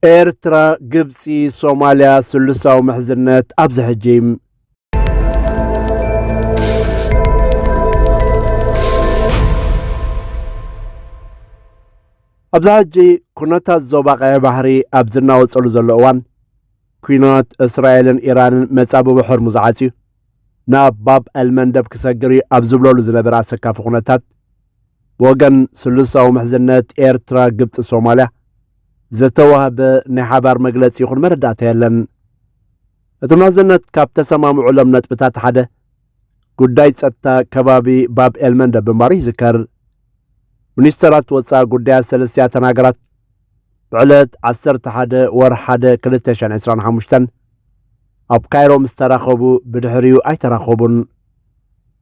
ኤርትራ፣ ግብጺ፣ ሶማልያ ስሉሳዊ ምሕዝነት ኣብዚ ሕጂ ኣብዚ ሕጂ ኩነታት ዞባ ቀይሕ ባሕሪ ኣብ ዝናወጸሉ ዘሎ እዋን ኩናት እስራኤልን ኢራንን መጻብቦ ሕርሙዝ ዓጽዩ ናብ ባብ ኣልመንደብ ክሰግር እዩ ኣብ ዝብለሉ ዝነበረ ኣሰካፊ ኩነታት ብወገን ስሉሳዊ ምሕዝነት ኤርትራ፣ ግብጺ፣ ሶማልያ ዝተዋህበ ናይ ሓባር መግለጺ ይኹን መረዳእታ የለን። እቲ ምሕዝነት ካብ ተሰማምዑሎም ነጥብታት ሓደ ጉዳይ ጸጥታ ከባቢ ባብ ኤልመንደብ ምንባሩ ይዝከር። ሚኒስተራት ወፃኢ ጉዳያት ሰለስቲኣተን ሃገራት ብዕለት 11 ወር 1 2025 ኣብ ካይሮ ምስ ተራኸቡ ብድሕሪኡ ኣይተራኸቡን።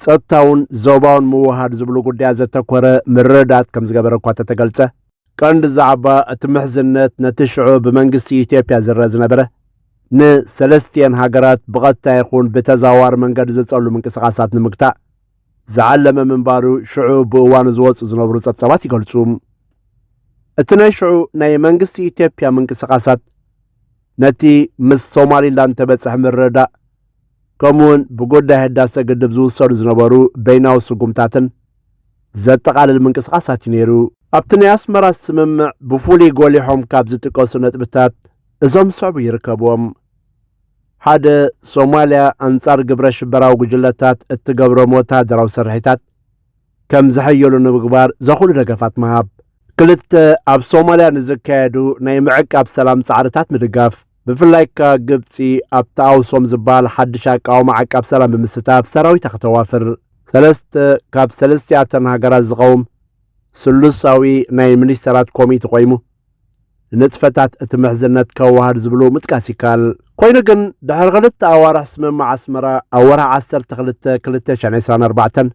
ጸጥታውን ዞባውን ምውህሃድ ዝብሉ ጉዳያት ዘተኮረ ምርድዳት ከም ዝገበረ እኳ እተተገልጸ፣ ቀንዲ ዛዕባ እቲ ምሕዝነት ነቲ ሽዑ ብመንግስቲ ኢትዮጵያ ዝረኣ ዝነበረ ንሰለስቲኤን ሃገራት ብቐጥታ ይኹን ብተዘዋዋሪ መንገዲ ዝጸሉ ምንቅስቓሳት ንምግታእ ዝዓለመ ምንባሩ ሽዑ ብእዋኑ ዝወጹ ዝነብሩ ጸብጻባት ይገልጹ። እቲ ናይ ሽዑ ናይ መንግስቲ ኢትዮጵያ ምንቅስቓሳት ነቲ ምስ ሶማሊላንድ ተበጽሐ ምርድዳእ ከምኡ'ውን ብጉዳይ ህዳሰ ግድብ ዝውሰዱ ዝነበሩ በይናዊ ስጉምታትን ዘጠቓልል ምንቅስቓሳት'ዩ ነይሩ። ኣብቲ ናይ ኣስመራ ስምምዕ ብፍሉይ ጎሊሖም ካብ ዝጥቀሱ ነጥብታት እዞም ዝስዕቡ ይርከብዎም። ሓደ፣ ሶማልያ ኣንጻር ግብረ-ሽበራዊ ጉጅለታት እትገብሮም ወተሃደራዊ ስርሒታት፣ ከም ዝሕየሉ ንምግባር ዘኹሉ ደገፋት ምሃብ። ክልተ፣ ኣብ ሶማልያ ንዝካየዱ ናይ ምዕቃብ ሰላም ጻዕርታት ምድጋፍ። ብፍላይ እካ ግብጺ ኣብቲ ኣውሶም ዝበሃል ሓድሽ ኣቃውማ ዓቃብ ሰላም ብምስታፍ ሰራዊታ ከተዋፍር። ሰለስተ፣ ካብ ሰለስቲኣተን ሃገራት ዝቐውም ስሉሳዊ ናይ ሚኒስተራት ኮሚቲ ቆይሙ ንንጥፈታት እቲ ምሕዝነት ከዋህድ ዝብሉ ምጥቃስ ይከኣል። ኮይኑ ግን ድሕሪ ክልተ ኣዋርሕ ስምምዕ ኣስመራ ኣብ ወርሒ ዓሰርተ ክልተ ክልተ ሽሕን ዕስራን ኣርባዕተን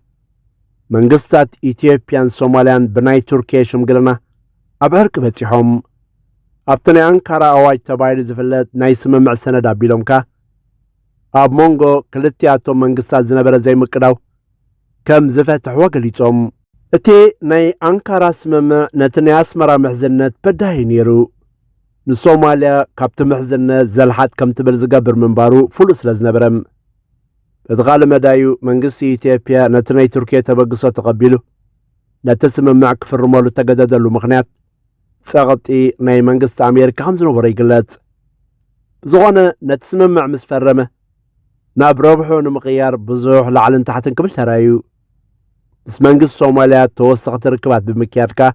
መንግስታት ኢትዮጵያን ሶማልያን ብናይ ቱርኪየ ሽምግልና ኣብ ዕርቂ በጺሖም። ኣብቲ ናይ ኣንካራ ኣዋጅ ተባሂሉ ዝፍለጥ ናይ ስምምዕ ሰነድ ኣቢሎም ከኣ ኣብ መንጎ ክልቲኣቶም መንግስታት ዝነበረ ዘይምቅዳው ከም ዝፈትሕዎ ገሊጾም። እቲ ናይ ኣንካራ ስምምዕ ነቲ ናይ ኣስመራ ምሕዝነት በዳሂ ነይሩ። ንሶማልያ ካብቲ ምሕዝነት ዘልሓጥ ከም ትብል ዝገብር ምንባሩ ፍሉጥ ስለ ዝነበረ። በቲ ካልእ መዳዩ መንግስቲ ኢትዮጵያ ነቲ ናይ ቱርኪየ ተበግሶ ተቐቢሉ ነቲ ስምምዕ ክፍርመሉ እተገደደሉ ምኽንያት ጸቕጢ ናይ መንግስቲ ኣሜሪካ ከም ዝነበሮ ይግለጽ። ብዝኾነ ነቲ ስምምዕ ምስ ፈረመ ናብ ረብሑ ንምቕያር ብዙሕ ላዕልን ታሕትን ክብል ተራዩ ምስ መንግስቲ ሶማልያ ተወሰኽቲ ርክባት ብምክያድ ከኣ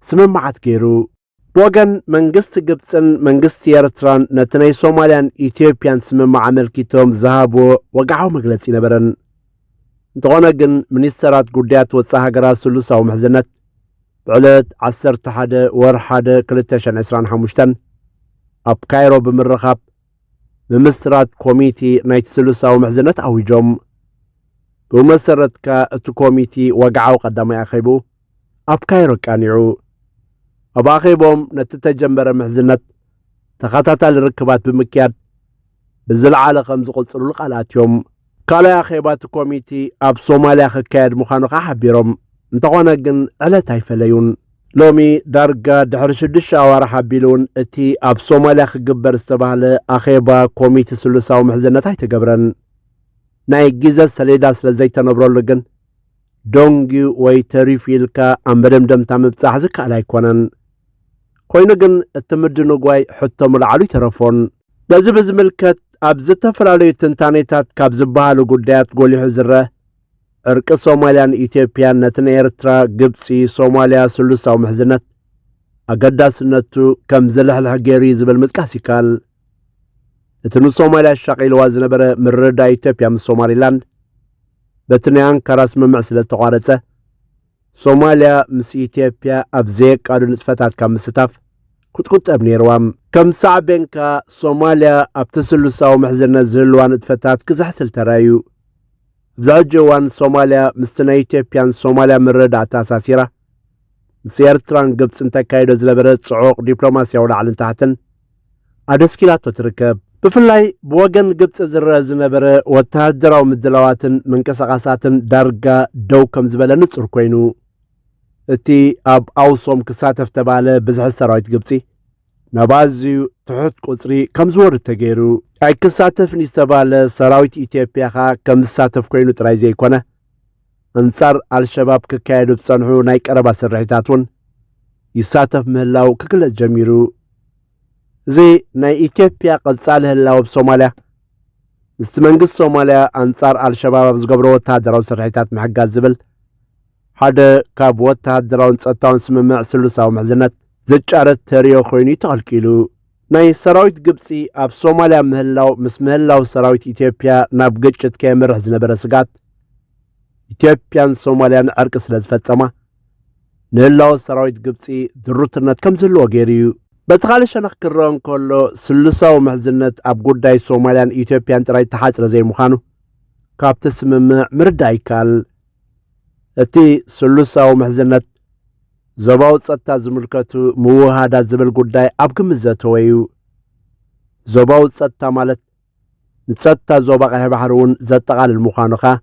ስምምዓት ገይሩ ብወገን መንግስቲ ግብፅን መንግስቲ ኤርትራን ነቲ ናይ ሶማልያን ኢትዮጵያን ስምምዕ ኣመልኪቶም ዝሃብዎ ወግዓዊ መግለፂ ነበረን እንተኾነ ግን ሚኒስተራት ጉዳያት ወፃኢ ሃገራት ስሉሳዊ ምሕዝነት ብዕለት 11 ወር 1 225 ኣብ ካይሮ ብምርኻብ ምምስራት ኮሚቴ ናይቲ ስሉሳዊ ምሕዝነት ኣዊጆም ብመሰረትካ እቲ ኮሚቴ ወግዓዊ ቀዳማይ ኣኼቡ ኣብ ካይሮ ኣቃኒዑ። ኣብ ኣኼብኦም ነቲ እተጀመረ ምሕዝነት ተኸታታሊ ርክባት ብምክያድ ብዝለዓለ ከም ዝቕጽሉሉ ቃል ኣትዮም። ካልኣይ ኣኼባ እቲ ኮሚቲ ኣብ ሶማልያ ክካየድ ምዃኑ ከኣ ሓቢሮም፣ እንተኾነ ግን ዕለት ኣይፈለዩን። ሎሚ ዳርጋ ድሕሪ ሽዱሽተ ኣዋርሕ ኣቢሉ እውን እቲ ኣብ ሶማልያ ክግበር ዝተባህለ ኣኼባ ኮሚቲ ስሉሳዊ ምሕዝነት ኣይተገብረን። ናይ ግዘ ሰሌዳ ስለ ዘይተነብረሉ ግን ዶንጊ ወይ ተሪፉ ኢልካ ኣብ መደምደምታ ምብጻሕ ዝከኣል ኣይኮነን። ኮይኑ ግን እቲ ምድንጓይ ሕቶ ምልዓሉ ኣይተረፎን። ነዚ ብዝምልከት ኣብ ዝተፈላለዩ ትንታኔታት ካብ ዝበሃሉ ጉዳያት ጎሊሑ ዝረእ ዕርቂ ሶማልያን ኢትዮጵያን ነቲ ናይ ኤርትራ፣ ግብጺ፣ ሶማልያ ስሉሳዊ ምሕዝነት ኣገዳስነቱ ከም ዝልሕልሕ ገይሩ እዩ ዝብል ምጥቃስ ይከኣል። እቲ ንሶማልያ ኣሻቒልዋ ዝነበረ ምርድዳእ ኢትዮጵያ ምስ ሶማሊላንድ በቲ ናይ ኣንካራ ስምምዕ ስለ ዝተቋረጸ ሶማልያ ምስ ኢትዮጵያ ኣብ ዘየቃዱ ንጥፈታት ካብ ምስታፍ ክትቁጠብ ነይርዋ ከም ሳዕቤን ከኣ ሶማልያ ኣብቲ ስሉሳዊ ምሕዝነት ዝህልዋ ንጥፈታት ክዝሕትል ተራእዩ ኣብዚ ሕጂ እዋን ሶማልያ ምስቲ ናይ ኢትዮጵያን ሶማልያ ምርድዳእ ኣተኣሳሲራ ምስ ኤርትራን ግብፅን ተካይዶ ዝነበረ ጽዑቕ ዲፕሎማስያዊ ላዕልን ታሕትን ኣደስኪላቶ ትርከብ። ብፍላይ ብወገን ግብጺ ዝረኣ ዝነበረ ወተሃደራዊ ምድላዋትን ምንቅስቓሳትን ዳርጋ ደው ከም ዝበለ ንጹር ኮይኑ፣ እቲ ኣብ ኣውሶም ክሳተፍ ተባህለ ብዝሒ ሰራዊት ግብጺ ናብ ኣዝዩ ትሑት ቁጽሪ ከም ዝወርድ ተገይሩ። ኣይክሳተፍን እዩ ዝተባህለ ሰራዊት ኢትዮጵያ ከኣ ከም ዝሳተፍ ኮይኑ ጥራይ ዘይኮነ፣ ኣንጻር ኣልሸባብ ክካየዱ ዝጸንሑ ናይ ቀረባ ስርሒታት እውን ይሳተፍ ምህላው ክግለጽ ጀሚሩ። እዚ ናይ ኢትዮጵያ ቀጻሊ ህላወ ኣብ ሶማልያ ምስቲ መንግስቲ ሶማልያ ኣንጻር ኣልሸባብ ኣብ ዝገብሮ ወተሃደራዊ ስርሒታት ምሕጋዝ ዝብል ሓደ ካብ ወተሃደራውን ጸጥታውን ስምምዕ ስሉሳዊ ምሕዝነት ዝጫረት ተርእዮ ኮይኑ እዩ ተቐልቂሉ። ናይ ሰራዊት ግብፂ ኣብ ሶማልያ ምህላው ምስ ምህላው ሰራዊት ኢትዮጵያ ናብ ግጭት ከየምርሕ ዝነበረ ስጋት ኢትዮጵያን ሶማልያን ዕርቂ ስለ ዝፈፀማ ንህላወ ሰራዊት ግብፂ ድሩትነት ከም ዝህልዎ ገይሩ እዩ በቲ ካልእ ሸነኽ ክረአ እንከሎ ስሉሳዊ ምሕዝነት ኣብ ጉዳይ ሶማልያን ኢትዮጵያን ጥራይ ተሓጽረ ዘይምዃኑ ካብቲ ስምምዕ ምርዳእ ይከኣል እቲ ስሉሳዊ ምሕዝነት ዞባዊ ጸጥታ ዝምልከቱ ምውህሃዳት ዝብል ጉዳይ ኣብ ግምት ዘተወ እዩ። ዞባዊ ጸጥታ ማለት ንጸጥታ ዞባ ቀይሕ ባሕሪ እውን ዘጠቓልል ምዃኑ ኸኣ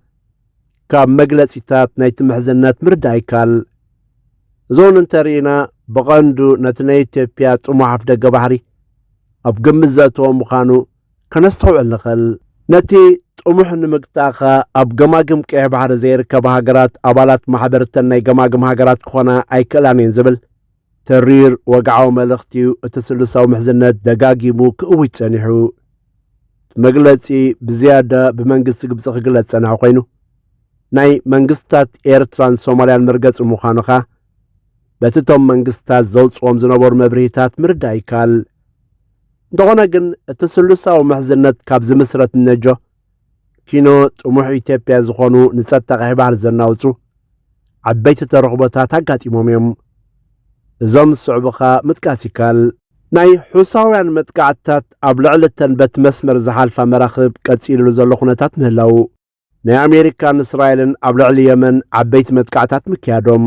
ካብ መግለጺታት ናይቲ ምሕዝነት ምርዳእ ይከኣል። እዞን እንተርኢና ብቐንዱ ነቲ ናይ ኢትዮጵያ ጥሙሕ ኣፍደገ ባሕሪ ኣብ ግምት ዘእተወ ምዃኑ ከነስተውዕል ንኽእል። ነቲ ጥሙሕ ንምግታእ ከኣ ኣብ ገማግም ቀይሕ ባሕሪ ዘይርከባ ሃገራት ኣባላት ማሕበር እተን ናይ ገማግም ሃገራት ክኾና ኣይክእላን እየን ዝብል ተሪር ወግዓዊ መልእኽቲ እዩ እቲ ስሉሳዊ ምሕዝነት ደጋጊሙ ክእውጅ ጸኒሑ። እቲ መግለጺ ብዝያዳ ብመንግስቲ ግብጺ ክግለጽ ዝጸንሐ ኮይኑ ናይ መንግስታት ኤርትራን ሶማልያን መርገጺ ምዃኑ ከኣ በቲ እቶም መንግስታት ዘውጽዎም ዝነበሩ መብርሂታት ምርዳእ ይከኣል። እንተኾነ ግን እቲ ስሉሳዊ ምሕዝነት ካብ ዝምስረት እነጆ ኪኖ ጥሙሕ ኢትዮጵያ ዝኾኑ ንጸጥታ ቀይሕ ባሕሪ ዘናውጹ ዓበይቲ ተረኽቦታት ኣጋጢሞም እዮም። እዞም ዝስዕቡ ኸኣ ምጥቃስ ይከኣል። ናይ ሑሳውያን መጥቃዕትታት ኣብ ልዕሊ እተን በቲ መስመር ዝሓልፋ መራኽብ ቀጺልሉ ዘሎ ኩነታት ምህላዉ፣ ናይ ኣሜሪካን እስራኤልን ኣብ ልዕሊ የመን ዓበይቲ መጥቃዕታት ምክያዶም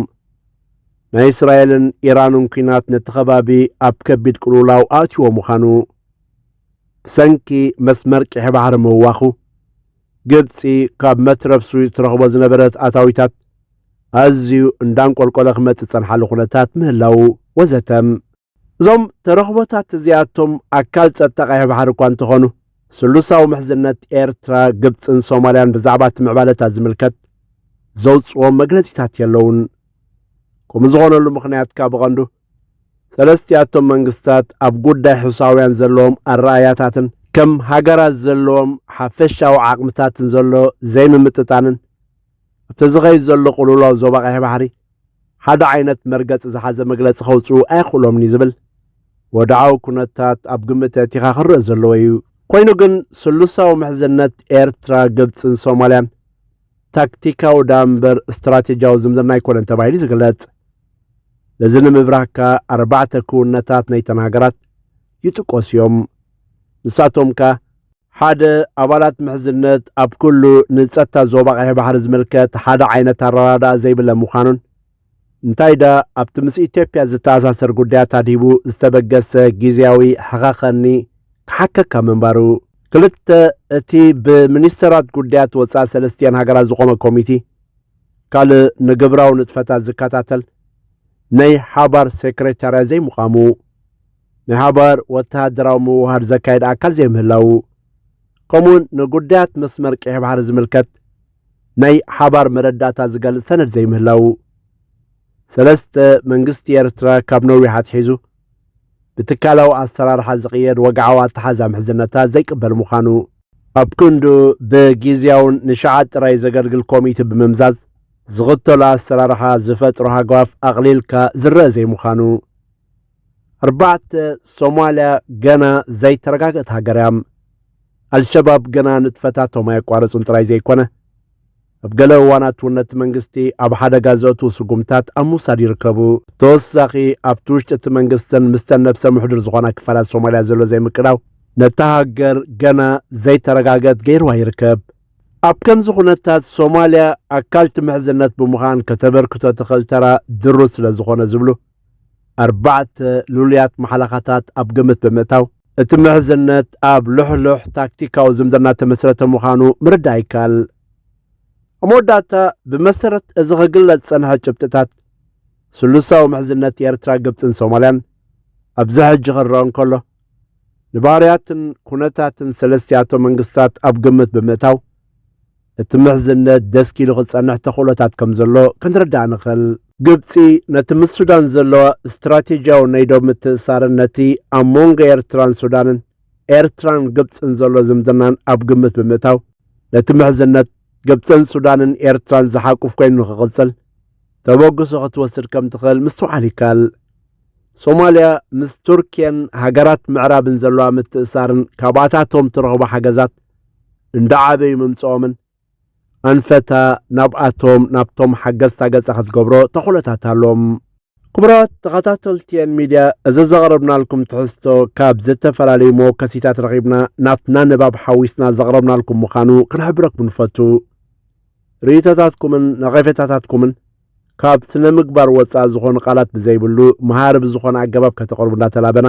ናይ እስራኤልን ኢራንን ኩናት ነቲ ከባቢ ኣብ ከቢድ ቅልውላው ኣእትዎ ምዃኑ ብሰንኪ መስመር ቂሒ ባሕሪ ምዋኹ ግብፂ ካብ መትረብ ስዊዝ ትረኽቦ ዝነበረት ኣታዊታት ኣዝዩ እንዳንቆልቆለ ክመፅእ ፀንሓሉ ኩነታት ምህላው ወዘተም እዞም ተረኽቦታት እዚኣቶም ኣካል ጸጥታ ቀይሕ ባሕሪ እኳ እንተኾኑ ስሉሳዊ ምሕዝነት ኤርትራ፣ ግብጽን ሶማልያን ብዛዕባ እቲ ምዕባለታት ዝምልከት ዘውጽዎ መግለጺታት የለውን። ከምኡ ዝኾነሉ ምኽንያት ካብ ብቐንዱ ሰለስቲኣቶም መንግስታት ኣብ ጉዳይ ሕሳውያን ዘለዎም ኣረኣእያታትን ከም ሃገራት ዘለዎም ሓፈሻዊ ዓቕምታትን ዘሎ ዘይምምጥጣንን እቲ ዝኸይድ ዘሎ ቅልውላው ዞባ ቀይሕ ባሕሪ ሓደ ዓይነት መርገፂ ዝሓዘ መግለፂ ከውፅኡ ኣየኽእሎምን'ዩ ዝብል ወድዓዊ ኩነታት ኣብ ግምት ኣእቲኻ ክረእ ዘለዎ እዩ። ኮይኑ ግን ስሉሳዊ ምሕዝነት ኤርትራ፣ ግብፅን ሶማልያን ታክቲካዊ ድኣ እምበር ስትራቴጂያዊ ዝምድና ኣይኮነን ተባሂሉ ዝግለፅ። ነዚ ንምብራህ ከኣ ኣርባዕተ ክውንነታት ናይተን ሃገራት ይጥቀሱ እዮም። ንሳቶም ከኣ ሓደ ኣባላት ምሕዝነት ኣብ ኩሉ ንጸጥታ ዞባ ቀይሕ ባሕሪ ዝምልከት ሓደ ዓይነት ኣረዳድኣ ዘይብለ ምዃኑን እንታይ ደኣ ኣብቲ ምስ ኢትዮጵያ ዝተኣሳሰር ጉዳያት ኣድሂቡ ዝተበገሰ ግዜያዊ ሕኸኸኒ ክሓከካ ምንባሩ ክልተ እቲ ብሚኒስተራት ጉዳያት ወጻኢ ሰለስቲኤን ሃገራት ዝቖመ ኮሚቲ ካልእ ንግብራዊ ንጥፈታት ዝከታተል ናይ ሓባር ሴክሬታርያ ዘይምቛሙ ናይ ሓባር ወተሃደራዊ ምውህሃድ ዘካይድ ኣካል ዘይምህላዉ፣ ከምኡውን ንጉዳያት መስመር ቀይሕ ባሕሪ ዝምልከት ናይ ሓባር መረዳእታ ዝገልጽ ሰነድ ዘይምህላዉ፣ ሰለስተ መንግስቲ ኤርትራ ካብ ነዊሕ ኣትሒዙ ብትካላዊ ኣሰራርሓ ዝቕየድ ወግዓዊ ኣተሓዛ ምሕዝነታት ዘይቅበል ምዃኑ፣ ኣብ ክንዱ ብጊዜያውን ንሸዓት ጥራይ ዘገልግል ኮሚቲ ብምምዛዝ ዝኽተሎ ኣሰራርሓ ዝፈጥሮ ሃጓፍ ኣቕሊልካ ዝረኣ ዘይምዃኑ፣ ኣርባዕተ ሶማልያ ገና ዘይተረጋገት ሃገር እያ ኣልሸባብ ገና ንጥፈታቶም ኣየቋረጹን ጥራይ ዘይኮነ ኣብ ገለ እዋናት እውን ነቲ መንግስቲ ኣብ ሓደጋ ዘእትዉ ስጉምታት ኣብ ምውሳድ ይርከቡ ተወሳኺ ኣብቲ ውሽጢ እቲ መንግስትን ምስተን ነብሰ ምሕዱር ዝኾና ክፋላት ሶማልያ ዘሎ ዘይምቅዳው ነታ ሃገር ገና ዘይተረጋገት ገይርዋ ይርከብ ኣብ ከምዚ ኩነታት ሶማልያ ኣካልቲ ምሕዝነት ብምዃን ከተበርክቶ ትኽእል ተራ ድሩ ስለ ዝኾነ ዝብሉ ኣርባዕተ ልሉያት ማሕለኻታት ኣብ ግምት ብምእታው፣ እቲ ምሕዝነት ኣብ ልሕሉሕ ታክቲካዊ ዝምድና እተመስረተ ምዃኑ ምርዳእ ይከኣል። ኣብ መወዳእታ፣ ብመሰረት እዚ ክግለጽ ዝጸንሐ ጭብጥታት፣ ስሉሳዊ ምሕዝነት ኤርትራ፣ ግብጽን ሶማልያን ኣብዚ ሕጂ ክረኣ እንከሎ፣ ንባህርያትን ኩነታትን ሰለስቲኣቶም መንግስታት ኣብ ግምት ብምእታው፣ እቲ ምሕዝነት ደስክ ኢሉ ክጸንሕ ተኽእሎታት ከም ዘሎ ክንርዳእ ንኽእል። ግብጺ ነቲ ምስ ሱዳን ዘለዋ ስትራቴጂያዊ ናይ ዶብ ምትእስሳርን ነቲ ኣብ መንጎ ኤርትራን ሱዳንን ኤርትራን ግብጽን ዘሎ ዝምድናን ኣብ ግምት ብምእታው ነቲ ምሕዝነት ግብጽን ሱዳንን ኤርትራን ዝሓቁፍ ኮይኑ ንክቕጽል ተበግሶ ክትወስድ ከም ትኽእል ምስትውዓል ይከኣል። ሶማልያ ምስ ቱርክየን ሃገራት ምዕራብን ዘለዋ ምትእስሳርን ካብኣታቶም ትረኽቦ ሓገዛት እንዳዓበዩ ምምጽኦምን ኣንፈተ ናብኣቶም ናብቶም ሓገዝታ ገጸ ክትገብሮ ተኽእሎታት ኣሎም። ክቡራት ተኸታተልቲ ኤን ሚድያ እዚ ዘቕረብናልኩም ትሕዝቶ ካብ ዝተፈላለዩ መወከሲታት ረኺብና ናትና ንባብ ሓዊስና ዘቕረብናልኩም ምዃኑ ክንሕብረኩም ንፈቱ። ርእይቶታትኩምን ነቐፌታታትኩምን ካብ ስነ ምግባር ወፃኢ ዝኾኑ ቃላት ብዘይብሉ መሃሪ ብዝኾነ ኣገባብ ከተቕርቡ እንዳተላበና